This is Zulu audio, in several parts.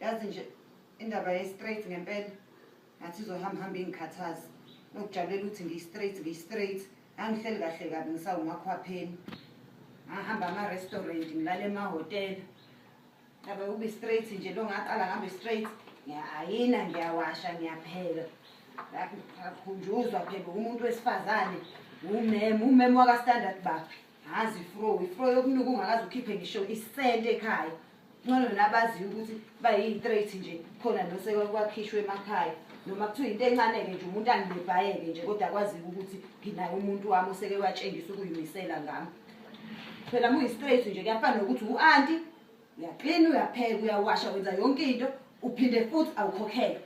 yazi nje indaba ye-straight ngempela ngathi izohamba hamba ingikhathazi nokujabulela ukuthi ngiyi-straight ngiyi-straight angihleli kahle kabi ngisawumakhwapheni ngahamba ama-restaurant ngilale emahhotela Abe ube straight nje lo ngaqala ngabe straight. Ngiyayina ngiyawasha ngiyapheka. Lakhunjuzwa phela umuntu wesifazane umem umem waka standard ba. Hazi fro ifro yokunuka ungakaze ukhiphe ngisho isente ekhaya. Ngcono nabazi ukuthi bayi straight nje khona nose kwakhishwe emakhaya. noma kuthiwa into encane-ke nje umuntu angibhayeke nje kodwa kwaziwa ukuthi nginaye umuntu wami oseke watshengisa ukuyimisela ngami phela muyi-straight nje kuyafana nokuthi u-anti uyaklina uyapheka uyawasha wenza yonke into uphinde futhi awukhokhele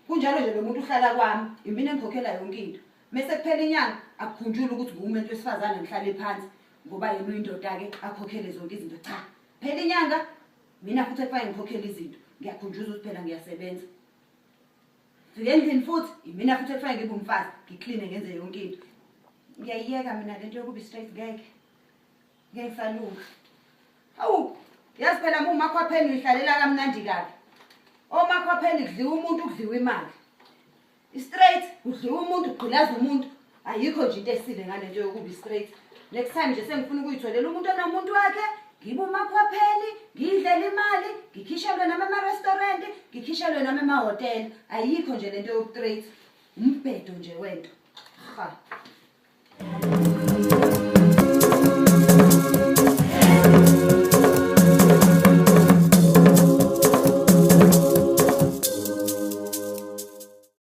kunjalo nje lo muntu uhlala kwami imina engikhokhela yonke into mese kuphela inyanga akukhunjula ukuthi nguwumuntu wesifazane ngihlale phansi ngoba yena uyindoda-ke akhokhele zonke izinto cha phela inyanga mina futhi ekufane ngikhokhele izinto ngiyakhunjuza ukuthi phela ngiyasebenza Ngifike endlini futhi imina futhi ekufane ngibe umfazi ngicleane ngenze yonke into. Ngiyayiyeka mina le nto yokuba straight ngeke. Ngeke salunga. Hawu, yazi phela uma umakhwapheni uyihlalela kamnandi kabi. Omakhwapheni kudliwa umuntu kudliwa imali. Straight kudliwa umuntu kugqilaza umuntu ayikho nje into esile ngale nto yokubi straight next time nje sengifuna ukuyitholela umuntu onomuntu wakhe ngibe umakhwapheni ngiyidlela imali ngikhishelwe nami ema-restaurant ngikhishelwe nami emahhotela ayikho nje le nto yokutrate umbhedo nje wento ha